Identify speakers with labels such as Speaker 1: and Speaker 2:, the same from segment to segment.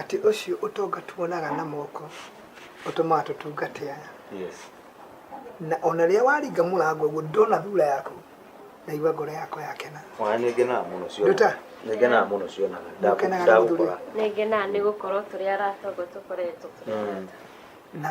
Speaker 1: Atĩ ũcio ũtonga tuonaga na moko ũtũmaga tũtungate aya. Yes. Na ona rĩrĩa waringa mũrango ũguo ndona thura yaku ndaigua ngoro yakwa yakena. Ona nĩ ngenaga mũno ciona. Nduta. Nĩ ngenaga mũno ciona. Ngenaga na gũthuri. Nĩ ngenaga nĩ gũkorwo tũrĩ arata ũguo tũkoretwo tũrĩ arata. Na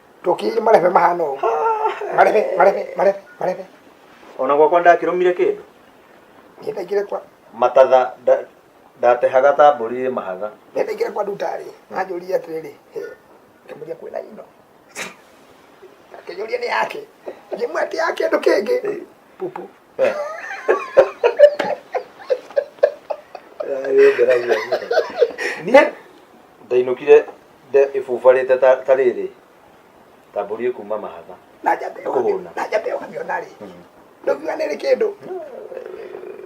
Speaker 1: Ndoki marebe mahana ũũ. Marebe, marebe, marebe, marebe. ona gwakwa ndakĩrũmire kĩndũ Niĩ ndaingĩre kwa, matatha nda- ndatehaga ta mbũri ĩ mahatha niĩ ndaingĩre kwa ndutarĩ. Anjũria atĩrĩrĩ, "Hĩ, ngĩmũria kwĩna ino. Akĩnjũria nĩ yake. Ngĩmwĩtia ya kĩndũ kĩngĩ. Pupu. niä ndainũkire ĩbubarĩte ta rĩrĩ tambũrie kuma mahatha na njambe kũhũna na njambe ũkamiona rĩ ndũkiuga nĩrĩ kĩndũ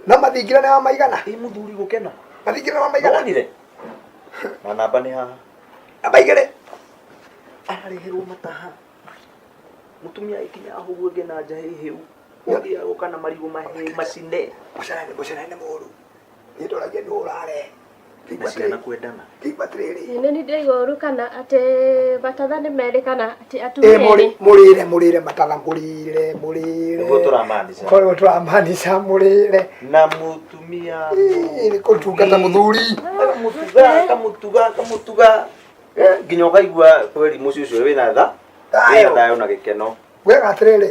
Speaker 1: no mathingira nĩ wa maigana ĩ mũthuri gũkena mathingira nĩ wa maigana nonire na namba nĩ haha namba igĩrĩ arareherwo mataha mutumia ikinya ahuguo nge na njahi hiu Ũthiaga gũka na marigũ mahĩ macine Mũcere nĩ mũcere nĩ mũru. Niĩ ndoragia nĩ ũrare. na ciana kwendana. Kĩimba atĩrĩrĩ. Nĩ nĩ ndaigua ũru kana atĩ batatha nĩ merĩ kana atĩ Ĩ atumia mũrĩ erĩ. mũrĩre mũrĩre matala mũrĩre mũrĩre. Nĩguo tũramaanisha. Korwo tũramaanisha mũrĩre. Na mũtumia. Ĩ, Nĩ kũtungata mũthuri. Kamutuga, kamutuga, kamutuga. Eh, Nginya ũkaigua kweli mũciĩ ũcio wĩna tha. Thayũ. Wĩna thayũ na gĩkeno. Wega atĩrĩrĩ.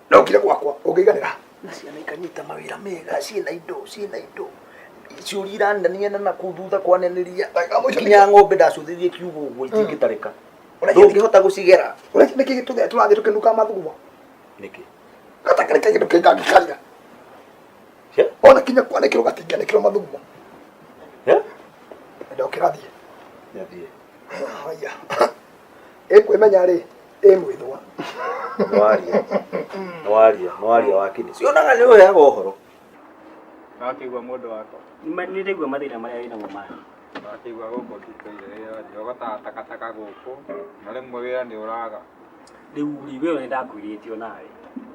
Speaker 1: na ukire gwakwa ungiganira na ciana ikanyita mawira mega ciina indo ciina indo ciuri iranania na na kuu thutha kwaneniria nginya ng'ombe ndacuthirie kiugo ũguo itingĩtarĩka ndũngĩhota gũcigera ũreki nĩkĩ gĩtũgea tũrathiĩ tũkĩnuka mathugumo nĩkĩ gatakĩrĩ kaĩ kĩndũ kĩngangĩkarĩra Cia? ona kinya kwanĩkĩrwo gatingĩanĩkĩrwo mathugumo Eh? ndokĩrathiĩ Nyathiĩ. haya ĩkwĩmenya rĩ ĩ mwĩthwa nĩwaria nĩwaria nĩwaria wakinĩ cionaga nĩ ũheaga ũhoro wakĩigua mũndũ wakwa nĩraigua mathĩna marĩa wĩ namo maya wakĩigua gũkũ ndikaire wĩra nĩ ũgotaga takataka gũkũ na rĩmwe wĩra nĩ ũraga rĩu rĩ we nĩ ndakwĩrĩte o nawe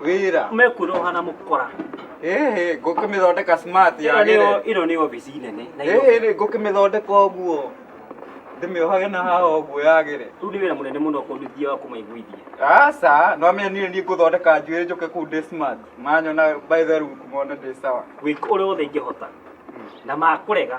Speaker 1: wĩra mekuroha na mũkora ĩhĩ ngũkĩmĩthondeka smart Ĩno nĩ yagĩre o- ĩno nĩ obici nene na ĩno- ĩhĩ rĩ ngũkĩmĩthondeka ũguo ndĩmĩohage na haha ũguo yagĩre rĩu nĩ wĩra mũnene mũno kũnduthia wa kũmaiguithia aca no amenye niĩ niĩ ngũthondeka njuĩrĩ njũke kũu ndĩ smart manyona by the look mone ndĩ sawa gwĩka ũrĩa wothe ingĩhota na makũrega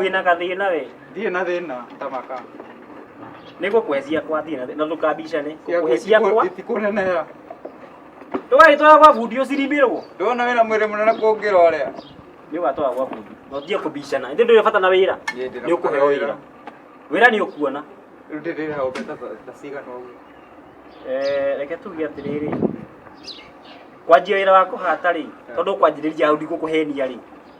Speaker 1: wĩna gathĩna we ndirĩ na thĩna tamaka nĩ gũkwenjia kwa thĩna na ndũkambicane gũkũhe ciakwa itikũnenera ndũgagĩtwara gwa bundi ũciribĩrwo ndona wĩna mwĩrĩ mũnene kũngĩra ũrĩa nĩ ũgatwara gwa bundi na ũtige kũbicana ĩndĩ ndũrĩ bata na wĩra nĩ ũkũheo wĩra wĩra nĩ ũkuona rĩu ndĩrĩ hau mbeca ta cigana ũguo Eh, reke tuge atĩrĩrĩ kwanjia wĩra wa kũhata rĩ tondũ ũkwanjĩrĩria hau ndigũkũhenia rĩ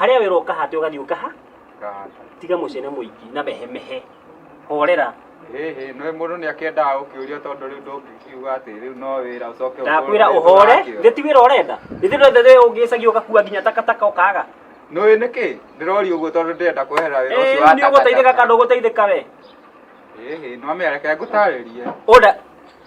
Speaker 1: harĩa wĩra ũkahate ũgathiĩ ũkaha tiga mũcene mũingĩ na mehemehe horera hihi nĩ mũndũ nĩ akĩendaga gũkĩũrio tondũ rĩu ndũngĩkiuga atĩ rĩu no wĩra ũcoke ndakwĩra ũhore githĩ ti wĩra ũrenda githĩ ndũrenda rĩu ũngĩcagia ũgakua nginya takataka ũkaga nĩ ũĩ nĩkĩ ndĩrori ũguo tondũ ndĩrenda kweherera wĩra ũcio wa nĩ ũgũteithĩka kana ndũgũteithĩka we hihi no mĩareke ngũtarĩrie Oda,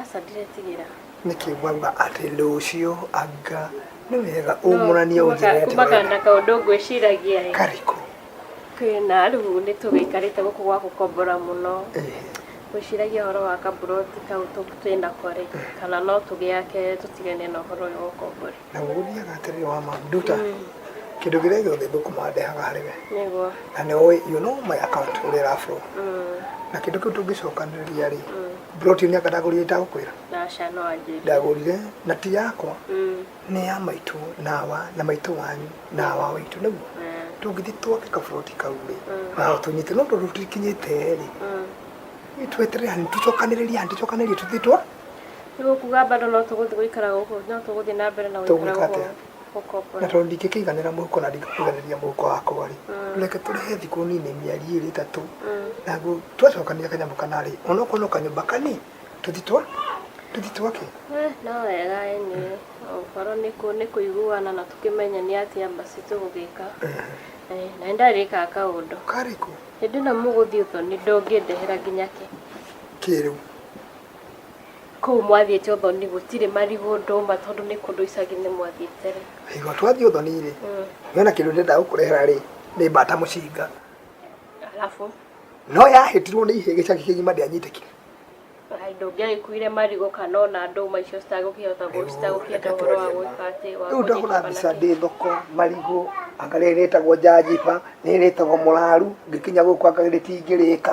Speaker 1: Aca ndiretigĩra. Nĩkĩ mwauga atĩ rũciũ anga nĩ wega ũmũranie ũnjĩre atĩ Kumagana na kaũndũ ngwĩciragia ĩ. karĩkũ? Kwĩna rĩu nĩ tũgĩikarĩte gũkũ gwa gũkombora mũno. Ĩhĩ. Ngwĩciragia ũhoro wa kaburoti kau tũ- twĩnako rĩ, kana no tũgĩake tũtigane na ũhoro ũyũ wa ũkombori. Naguo ũthiaga atĩrĩrĩ wa ma nduta kĩndũ kĩrĩa gĩothe ngũkũma ndehaga harĩ we nĩguo na nĩ ũĩ you know my account ũrĩa ĩra flow na kĩndũ kĩu tũngĩcokanĩrĩria rĩ broti nĩ anga ndagũrire itagũkwĩra naca no anjĩrie ndagũrire na ti yakwa Mm, nĩ ya maitũ nawa na maitũ wanyu nawa waitũ naguo eh, tũngĩthiĩ twake kaburoti kau rĩ na tũnyite no tondũ tũtikinyĩte rĩ mm, tweterere hanini tũcokanĩrĩrie hanini tũcokanĩrĩrie tũthiĩ twa Nĩ gũkuga bado no tũgũthiĩ gũikara gũkũ, no tũgũthiĩ na mbere na gũikara Tũgwĩka gũkũ atĩa? gũkombora. na tondũ ndingĩkĩiganĩra mũhuko na ndingĩkũiganĩria mũhuko wakwa rĩ reke tũrĩhe thikũ nini mĩeri ĩrĩ ĩtatũ naguo twacokania kanyamũ kana rĩ onokorwo no kanyũmba kani tũthi twa tũthi twake Eh, no wega ĩnĩ gũkorwo nĩ kũ- nĩ kũiguana na tũkĩmenya nĩ atĩa basi tũgũgĩka Eh, na nĩ ndarĩkaga kaũndũ karĩkũ hĩndĩ ĩno mũgũthiĩ ũthoni ndũngĩndehera nginya kĩ kĩrĩu Kũu mwathiĩte ũthoni gũtirĩ marigũ ndũma tondũ nĩ kũndũ icagi-inĩ mwathiĩte rĩ? Igua twathiĩ ũthoni rĩ, nĩ ona kĩndũ ndĩrenda gũkũrehera rĩ, nĩ mbata mũcinga. Alafu? No yahĩtirwo nĩ ihĩĩ gĩcagi kĩgima ndĩanyitĩkire. Ndũngĩagĩkuire marigũ kana ona ndũma icio citagũkĩhota citagũkĩenda ũhoro wa gwĩka atĩ wa Rĩu ndahũra mbica ndĩ thoko, marigũ, anga rĩrĩ rĩtagwo njanjiba, rĩrĩ rĩtagwo mũraru, ngĩkinya gũkũ anga rĩtingĩrĩka.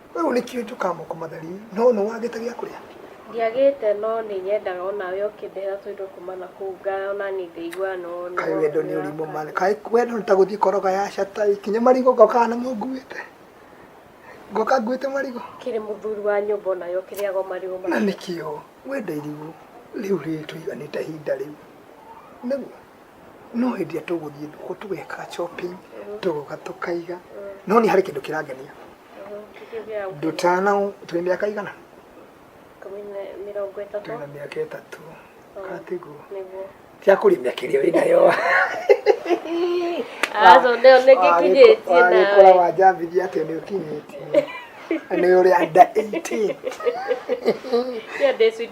Speaker 1: Wewe ulikiwe tukamo kwa madhari no no wageta gya kuria ndiagite no ni nyendaga ona we ukindehera tuindo kuma na kuu nga ona ni ngaigua no no kai wendo ni urimu mane kai wendo ni taguthi koroga ya shata ikinye marigo goka na munguite goka nguite marigo kiri muthuri wa nyumba ona yo kiri ago marigo na nikio wenda irigu riu ritu iganite hinda riu niguo no hĩndĩ ĩrĩa tũgũthiĩ thoko tũgekaga shopping tũgoka tũkaiga no nĩ harĩ kĩndũ kĩrangenia ndũtana tũrĩ mĩaka igana tũrĩ na mĩaka ĩtatũ katiguo cia kũrĩ mĩaka ĩrĩa wĩ nayo azo ndio nikikinyĩtie wagĩkora nawe wanjambithia atĩ nĩ ũkinyĩtie nĩ ũrĩ under 18 Hiyo day sweet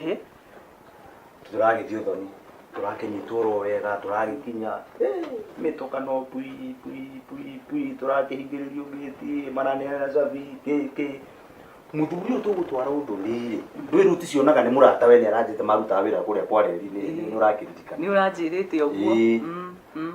Speaker 1: Eh? tũragĩthiĩ ũthoni tũrakĩnyitwo oro wega tũragĩkinya eh, mĩtũkano pui pui pui pui tũrakĩhingĩrĩrio gĩti maraneana cabi kĩkĩ mũthuri ũyũ tũgũtwara ũthoni-rĩ ndwĩrut cionaga nĩ mũrata we nĩ aranjĩte marutaga wĩra kũrĩa kwa reri nĩ nĩ ũrakĩririkana nĩ ũranjĩrĩte ũguo Ĩĩ. Mm, mm.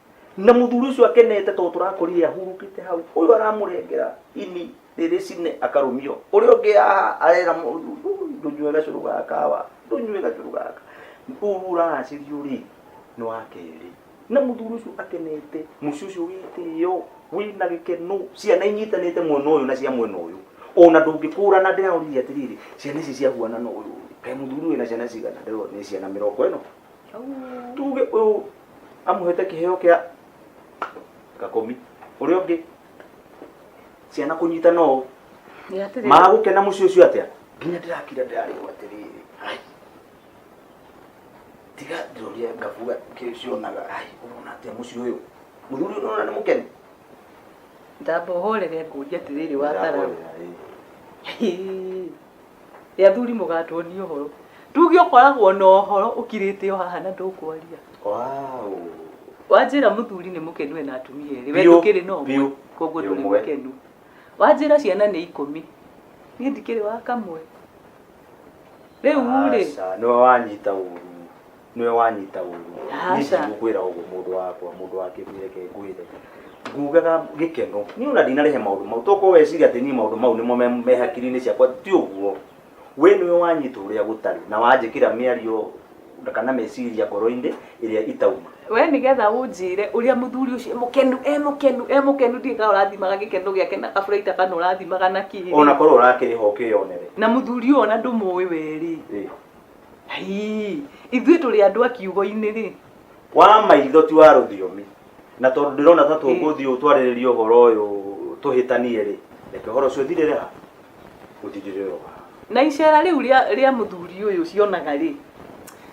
Speaker 1: na muthuri ucio akenete to turakorire ahurukite hau uyu aramurengera ini riri cine akarumio uria ungi aha arera ndunyue gacuru gaka wa ndunyue gacuru gaka uyu uracirio ri ni wa keri na muthuri ucio akenete muci ucio witio wina gikeno ciana inyitanite mwena uyu na cia mwena uyu ona ndungikũrana ndĩraũririe atĩrĩrĩ ciana ici ciahuana na ũyũ kaĩ mũthuri wĩna ciana cigana ndĩrona nĩ ciana mĩrongo ĩno tuge ũyũ amũhete kĩheo kĩa gakũmi ũrĩa ũngĩ ciana kũnyitana ũũ magũkena mũciĩ ũcio atĩa nginya ndĩrakira ndĩrarĩgwo atĩrĩrĩ ai tiga ndĩroria ngabuga kĩcionaga ai ũrona atĩa mũciĩ ũyũ mũthuri ũyũ ũrona nĩ mũkeni ndamba ũhorere ngũria atĩrĩrĩ watara Ndĩrahorera, ĩ. Nĩ athuri mũgatuonia ũhoro. Tuge ũkoragwo na ũhoro ũkirĩte o haha na ndũkwaria. Wow. Wanjĩra mũthuri nĩ mũkenu ena atumia erĩ. We ndũkĩrĩ na ũmwe. Koguo ndũrĩ mũkenu. Wanjĩra ciana nĩ ikũmi. Niĩ ndikĩrĩ wa kamwe. Rĩu rĩ. Aca nĩwe wanyita ũru. nĩwe wanyita ũru Aca. nĩcigũkwĩra ũguo mũndũ wakwa mũndũ wa kĩguĩ reke ngwĩre ngugaga gĩkeno niĩ ona ndinarehe maũndũ mau tokorwo weciria atĩ niĩ maũndũ mau nĩmo me- me hakiri-inĩ ciakwa ti ũguo we nĩwe wanyita ũrĩa gũtarĩ na wanjĩkĩra mĩario kana meciria ngoro-inĩ ĩrĩa itauma we nĩgetha ũnjĩre ũrĩa mũthuri ũcio e mũkenu e mũkenu e mũkenu ndirĩ kana ũrathimaga gĩkeno gĩake na kaburaita kana ũrathimaga na kĩĩ ona korwo ũrakĩrĩha ũkĩyonere na mũthuri ũyũ ona ndũmũĩ werĩ Ĩ, Hii, ithuĩ tũrĩ andũ a kiugo-inĩ rĩ wa maitho ti wa rũthiomi na tondũ ndĩrona ta tũngũthiĩ ũũ twarĩrĩrie ũhoro ũyũ tũhĩtanie rĩ reke ũhoro ũcio ũthirĩre ha ũthirĩre o ha na icera rĩu rĩa rĩa mũthuri ũyũ ũcionaga rĩ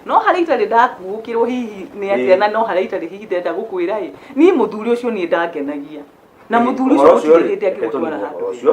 Speaker 1: no harĩa itarĩ ndakuũkĩrwo hihi nĩ Ĩĩ. atĩa na no harĩa itarĩ hihi ndenda gũkwĩra ĩ niĩ mũthuri ũcio niĩ ndangenagia na mũthuri ũcio Ũhoro gũtirĩ rĩ, hĩndĩ reke tũniine angĩgũtwara handũ ũhoro ũcio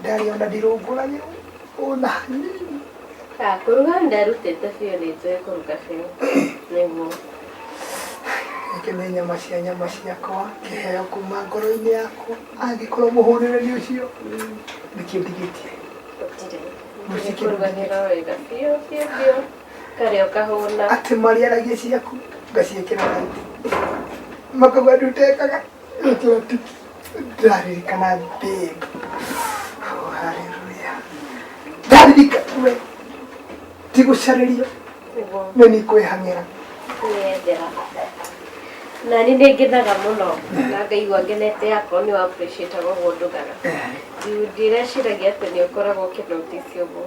Speaker 1: Ndarĩ ona ndirũngũragĩrwo ona hanini. Ah, kũruga ndarutĩte biũ nĩ njũĩ kũruga biũ nĩguo Nake nĩ nyama cia nyama ciakwa kĩheo kuma ngoro-inĩ yakwa angĩkorwo mũhũrĩrĩri ũcio nĩkĩo ndigĩtie gũtirĩ Mũciĩ kĩndũ kũrugagĩra wega biũ biũ biũ karĩa ũkahũna atĩ marĩaragia ciaku ngaciĩkĩra raithi makauga ndutekaga Looking at the daddy can I beg. Oh, hallelujah. Daddy can pray. Tigo shariria. Me ni kwe hamira. Niendera. Na ni ne genaga muno. Na ngai wa genete yako ni wa appreciate go go ndugara. Ndireciragia atĩ nĩ ũkoragwo ũkĩnoticio ũguo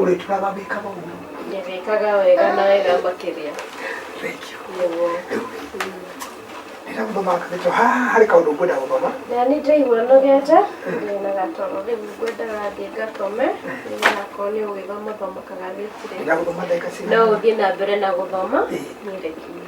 Speaker 1: ũrĩtũra mamĩkaga ũguo ndĩmĩkaga wega na wega makĩria ndĩragũthomakathĩtwo haha harĩ kaũndũ ngwenda gũthoma na nĩ ndaigua nogete na gatoro rĩu ngwendaga thiĩ ngatome nĩgakorwo nĩ ũgĩthoma thomakaga gĩtirĩ no ũthiĩ na mbere na gũthoma nĩrekinyie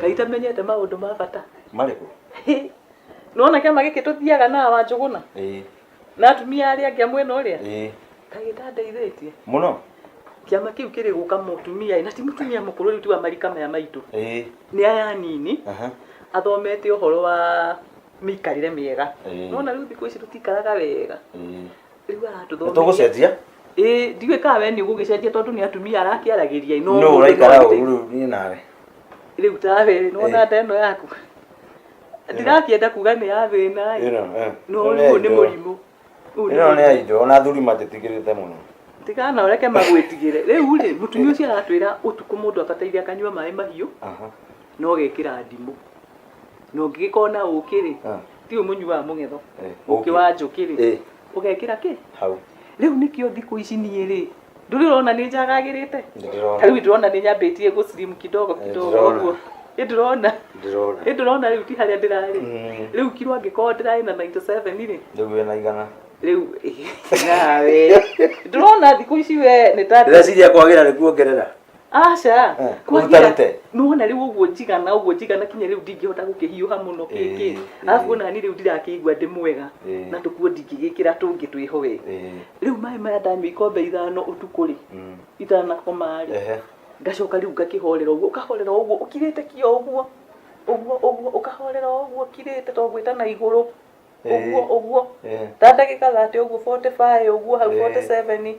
Speaker 1: ngai tamenyete maundu ma bata marĩkũ nona kiama giki tuthiaga na wanjuguna na atumia arĩa angĩ a mwena ũrĩa ĩĩ kagĩtandeithĩtie mũno kĩama kĩu kĩrĩ gũka mũtumia na ti mũtumia mũkũrũ rĩu ti wa marika maya maitũ ĩĩ nĩ aya anini aha athomete ũhoro wa mĩikarĩre mĩega Ĩĩ. nona rĩu thikũ ici tũtikaraga wega ĩĩ rĩu aratũthomithia tũgũcenjia ĩĩ ndiũĩ kana we nĩ ũgũgĩcenjia tondũ nĩ atumia arakĩaragĩria ĩ, no mũndũ ũraikara no ũru rĩu niĩ nawe rĩu tawe nona nda ĩno yaku ndirakĩenda kuga nĩ ya thĩna ĩ Ĩno, eh. no Ĩno nĩ ũyũ nĩ Aidol. mũrimũ Ũyũ nĩ Ĩno nĩ mũrimũ. aindo, ona athuri matĩtigĩrĩte mũno. tigana ũreke magwĩtigĩre rĩu rĩ mũtumia ũcio aratwĩra ũtukũ mũndũ abataire akanyua maĩ mahiũ Aha. na ũgekĩra ndimũ na ũngĩgĩkorwo na ũkĩ rĩ Ah. ti ũyũ mũnyuaga mũng'etho Eh, ũkĩ ũkĩ. wa njũkĩ rĩ Eh. ũgekĩra kĩ hau rĩu nĩkĩo thikũ ici niĩ rĩ ndũrĩ ũrona nĩ njagagĩrĩte ta ndĩrona rĩu ndĩrona nĩ nyambĩtie gũ slim kidogo kidogo ndĩrona. ũguo ĩ ndĩrona ndĩrona ĩ ndĩrona rĩu ti harĩa ndĩrarĩ Mm. rĩu kiro angĩkorwo ndĩrarĩ na 97 rĩ rĩu wĩna igana rĩu nawe ndũrona thikũ ici we nĩ ta ndĩreciria kwagĩra nĩ kuongerera aca Eh, kwaria- ũrutarute. nĩwona rĩu ũguo njigana ũguo njigana kinya rĩu ndingĩhota gũkĩhiũha mũno Eh, kĩkĩ eh. arabu ona niĩ rĩu ndirakĩigua ndĩ mwega Eh. na tũkuo ndingĩgĩkĩra tũngĩ twĩho we Eh, rĩu maĩ maya ndanyua ikombe ithano ũtukũ rĩ mm, itanakoma rĩ ehe. ngacoka rĩu ngakĩhorera ũguo ũkahorera ũguo ũkirĩte kio ũguo ũguo ũguo ũkahorera ũguo ũkirĩte to gwĩta na igũrũ ũguo ũguo Eh. ta ndagĩka thate ũguo 45 ũguo hau Eh. 47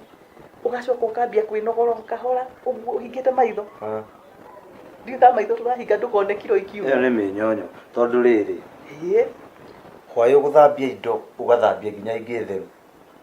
Speaker 1: ũgacoka ũkambia kwĩnogora o kahora ũguo ũhingĩte maitho Ah. ndiũ ta maitho tũrahinga ndũkone kiro ĩyo ikiuma nĩ mĩnyonyo tondũ rĩrĩ Ĩĩ. hwaĩ ũgũthambia indo ũgathambia nginya ingĩ theru